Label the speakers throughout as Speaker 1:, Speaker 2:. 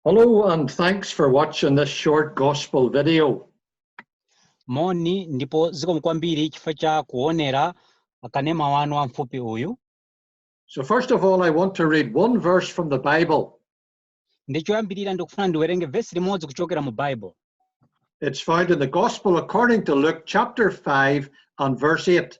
Speaker 1: Hello and thanks for watching this short gospel
Speaker 2: video. moni ndipo zikomo kwambiri chifukwa cha kuonera kanema wa uthenga wamfupi uyu So
Speaker 1: first of all, I want to read one verse from the Bible.
Speaker 2: ndi choyambirira ndikufuna ndiwerenge vesi limodzi kuchokera mu bible It's
Speaker 1: found in the Gospel according to Luke chapter 5 and verse 8.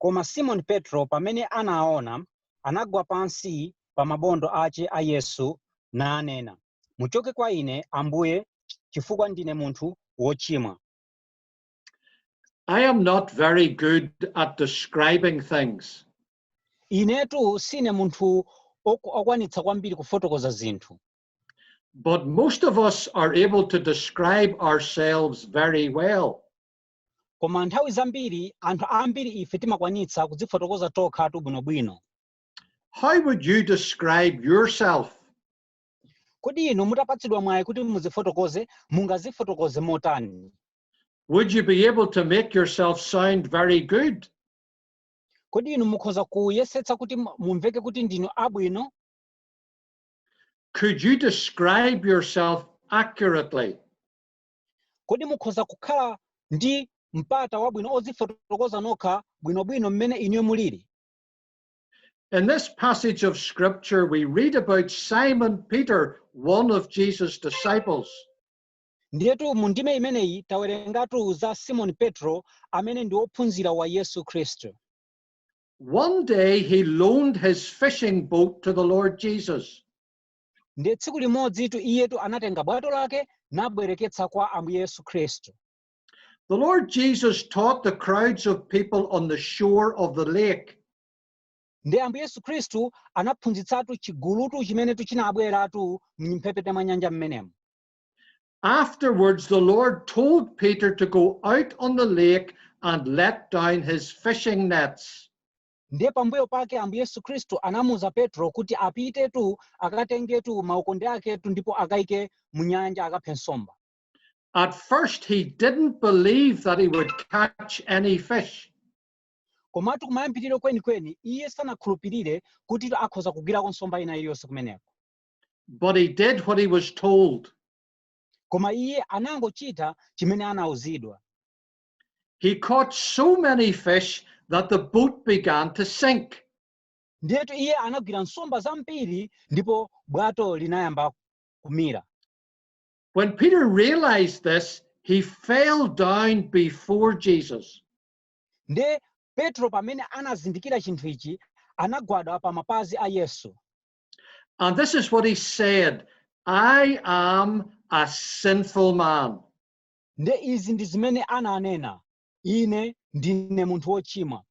Speaker 2: Koma Simoni Petro, pamene anaona, anagwa pansi pa mabondo ache a Yesu, nanena, Muchoke kwa ine, Ambuye, chifukwa ndine munthu wochimwa.
Speaker 1: I am not very good at describing things.
Speaker 2: Inetu sine munthu ok- okwanitsa kwambiri kufotokoza zinthu. But
Speaker 1: most of us are able to describe ourselves very well.
Speaker 2: Koma nthawi zambiri anthu ambiri ife timakwanitsa kudzifotokoza tokhatu bwinobwino.
Speaker 1: How would you describe yourself?
Speaker 2: Kodi inu mutapatsidwa mwayi kuti mudzifotokoze, mungadzifotokoze motani? Would
Speaker 1: you be able to make yourself sound very
Speaker 2: good? Kodi inu mukhoza kuyesetsa kuti mu- mumveke kuti ndinu abwino?
Speaker 1: Could you describe yourself accurately?
Speaker 2: Kodi mukhoza kukhala ndi mpata wabwino odzifotokoza nokha bwinobwino mmene inuyo muliri?
Speaker 1: In this passage of scripture, we read about Simon Peter, one of Jesus' disciples. Ndiyetu
Speaker 2: mu ndime imeneyi tawerengatu za Simoni Petro amene ndi wophunzira wa Yesu Khristu.
Speaker 1: One day he loaned his fishing boat to the Lord Jesus.
Speaker 2: ndiye tsiku limodzitu iyetu anatenga bwato lake nabwereketsa kwa ambuye yesu khristu
Speaker 1: The Lord Jesus taught the crowds of people on the shore of the lake. ndiye
Speaker 2: ambuye yesu khristu anaphunzitsatu chigulutu chimenetu chinabweratu m'mphepete mwa nyanja
Speaker 1: mmenemo Afterwards, the Lord told Peter to go out on the lake and let down his fishing nets. Ndiye pambuyo
Speaker 2: pake Ambuye Yesu Khristu anamuuza Petro kuti apitetu akatengetu maukonde aketu ndipo akaike mu nyanja akaphe nsomba. At
Speaker 1: first he didn't believe that he would catch any fish. Komatu
Speaker 2: kumayambiriro kwenikweni iye sanakhulupirire kuti akhoza kugwirako nsomba ina iliyonse kumeneko. But he
Speaker 1: did what he was told. Koma
Speaker 2: iye anangochita chimene anauzidwa.
Speaker 1: He caught so many fish that the boat began to sink.
Speaker 2: ndiyetu iye anagwira nsomba zambiri ndipo bwato linayamba kumira
Speaker 1: When Peter realized this, he fell down before Jesus.
Speaker 2: ndiye petro pamene anazindikira chinthu ichi anagwada pa mapazi a yesu And
Speaker 1: this is what he said I am a sinful man. Ndiye
Speaker 2: izi ndi zimene ananena, Ine ndine munthu wochimwa.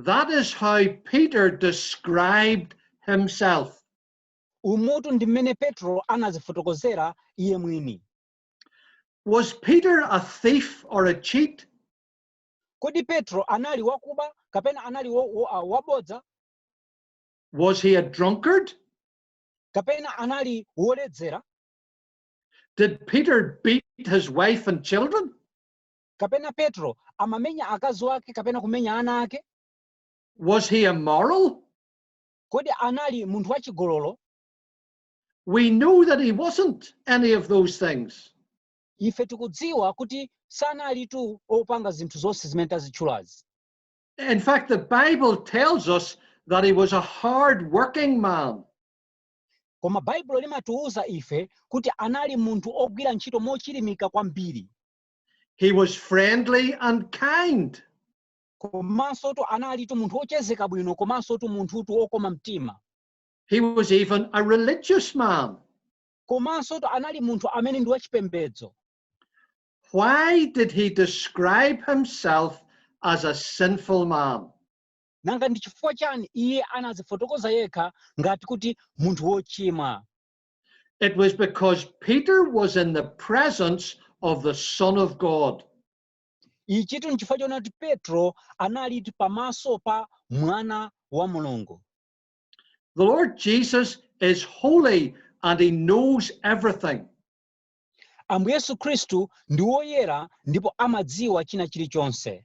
Speaker 1: That is how Peter described himself. Umutu
Speaker 2: ndi mmene Petro anazifotokozera iye mwini.
Speaker 1: Was Peter a thief or a cheat?
Speaker 2: Kodi Petro anali wakuba kapena anali wabodza?
Speaker 1: Was he a drunkard?
Speaker 2: Kapena anali woledzera?
Speaker 1: Did Peter beat his wife and children? Kapena
Speaker 2: Petro amamenya akazi wake kapena kumenya ana ake? Was
Speaker 1: he immoral? Kodi
Speaker 2: anali munthu wachigololo?
Speaker 1: We know that he wasn't any of those things. Ife
Speaker 2: tikudziwa kuti sanalitu opanga zinthu zonse zimene tazitchulazi. In
Speaker 1: fact, the Bible tells us that he was a hard working man. koma
Speaker 2: baibulo limatiuza ife kuti anali munthu ogwira ntchito mochilimika kwambiri He
Speaker 1: was friendly and kind. komansotu
Speaker 2: analitu munthu ochezeka bwino komansotu munthutu okoma mtima He was
Speaker 1: even a religious man. komansotu
Speaker 2: anali munthu amene ndi wachipembedzo
Speaker 1: Why did he describe himself as a sinful man? Nanga
Speaker 2: ndi chifukwa chani iye anazifotokoza yekha ngati kuti munthu wochimwa?
Speaker 1: It was because Peter was in the presence of the Son of God. Ichitu
Speaker 2: nchifukwa choona kuti Petro analitu pamaso pa Mwana wa Mulungu.
Speaker 1: The Lord Jesus is holy and he knows everything.
Speaker 2: Ambuye Yesu Khristu ndi woyera ndipo amadziwa china chilichonse.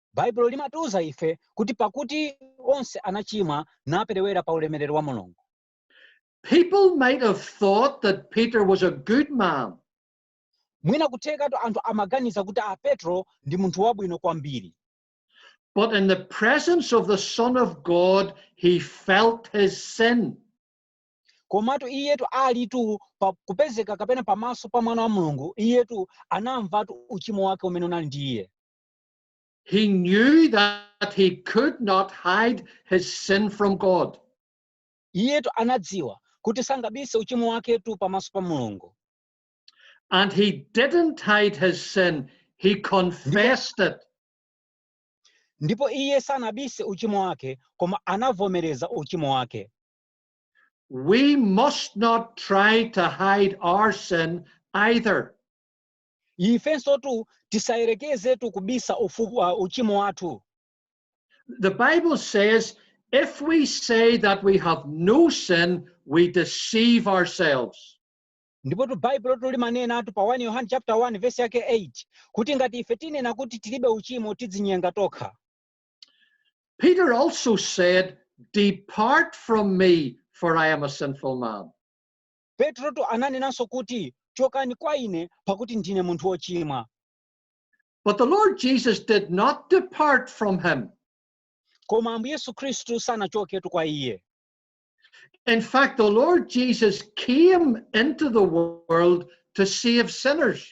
Speaker 1: Baibulo
Speaker 2: limatiuza ife kuti pakuti onse anachimwa naperewera pa ulemerero wa Mulungu. People
Speaker 1: might have thought that Peter was a good man. Mwina
Speaker 2: kuthekatu anthu amaganiza kuti a Petro ndi munthu wabwino kwambiri. But
Speaker 1: in the presence of the Son of God, he felt his sin.
Speaker 2: komatu iyetu alitu pa kupezeka kapena pamaso pa mwana wa mulungu iyetu anamvatu uchimo wake umene unali ndi iye He
Speaker 1: knew that he could not hide his sin from God. iyetu
Speaker 2: anadziwa kuti sangabise uchimo waketu pamaso pa mulungu
Speaker 1: And he didn't hide his sin, he confessed it.
Speaker 2: ndipo iye sanabise uchimo wake koma anavomereza uchimo wake
Speaker 1: We must not try to hide our sin either.
Speaker 2: ifensotu tisayerekezetu kubisa ufu, uh, uchimo wathu
Speaker 1: The Bible says, if we say that we have no sin, we deceive ourselves. ndipotu
Speaker 2: baibulotu limanenatu pa 1 yohane chapter 1 verse yake 8 kuti ngati ife tinena kuti tilibe uchimo tidzinyenga
Speaker 1: tokha Peter also said, Depart from me, for I am a sinful man. Petrotu
Speaker 2: ananenanso kuti, Chokani kwa ine, pakuti ndine munthu wochimwa.
Speaker 1: But the Lord Jesus did not depart from him. Koma
Speaker 2: Ambuye Yesu Khristu sanachoketu kwa iye.
Speaker 1: In fact, the Lord Jesus came into the world to save sinners.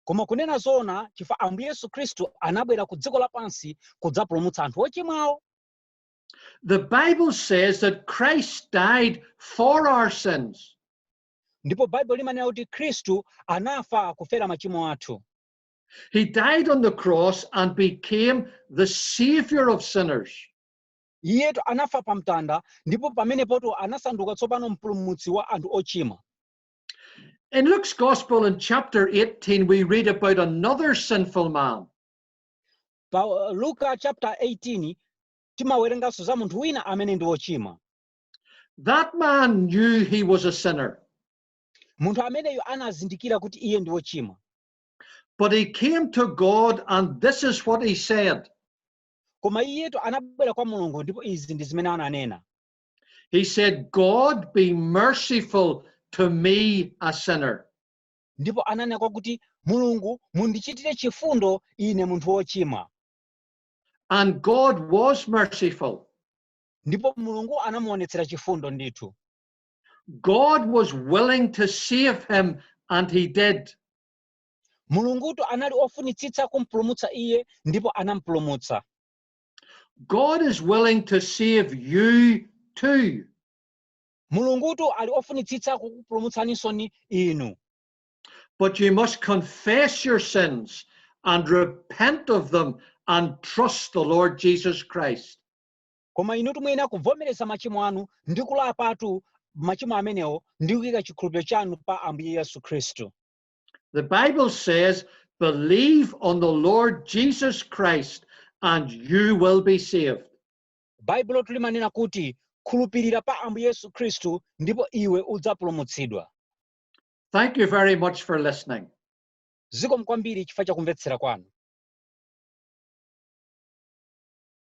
Speaker 1: Koma kunena
Speaker 2: zoona, chifukwa Ambuye Yesu Khristu anabwera ku dziko lapansi kudzapulumutsa anthu ochimwawo.
Speaker 1: The Bible says that Christ died for our sins. ndipo
Speaker 2: baibulo limanena kuti khristu anafa kufera machimo athu He
Speaker 1: died on the cross and became the savior of sinners. iyetu
Speaker 2: anafa pa mtanda ndipo pamenepotu anasanduka tsopano mpulumutsi wa anthu ochimwa
Speaker 1: In Luke's Gospel in chapter 18, we read about another sinful man. pa
Speaker 2: uh, luka chapter 18 timawerenganso za munthu wina amene ndi wochimwa That
Speaker 1: man knew he was a sinner, munthu
Speaker 2: ameneyo anazindikira kuti iye ndi wochimwa but he
Speaker 1: came to God, and this is what he said. koma
Speaker 2: iyetu anabwera kwa mulungu ndipo izi ndi zimene ananena He
Speaker 1: said, God be merciful to me, a sinner. ndipo
Speaker 2: ananena kwa kuti mulungu mundichitire chifundo ine munthu wochimwa
Speaker 1: And God was merciful. ndipo
Speaker 2: mulungu anamuonetsera chifundo ndithu God
Speaker 1: was willing to save him, and he did.
Speaker 2: mulungutu anali ofunitsitsa kumpulumutsa iye ndipo anampulumutsa
Speaker 1: God is willing to save you too.
Speaker 2: Mulungutu ali ofunitsitsa kukupulumutsanisoni inu.
Speaker 1: But you must confess your sins and repent of them and trust the Lord Jesus Christ. Koma inutu
Speaker 2: muyenera kuvomereza machimo anu ndi kulapatu machimo amenewo ndi kuyika chikhulupiriro chanu pa Ambuye Yesu Khristu. The
Speaker 1: Bible says, believe on the Lord Jesus Christ and you will be saved. Baibulotu
Speaker 2: limanena kuti, Khulupirira pa Ambuye Yesu Khristu ndipo iwe udzapulumutsidwa.
Speaker 1: Thank you
Speaker 2: very
Speaker 1: much for
Speaker 2: listening. Zikomo
Speaker 1: kwambiri
Speaker 2: chifukwa cha
Speaker 1: kumvetsera
Speaker 2: kwanu.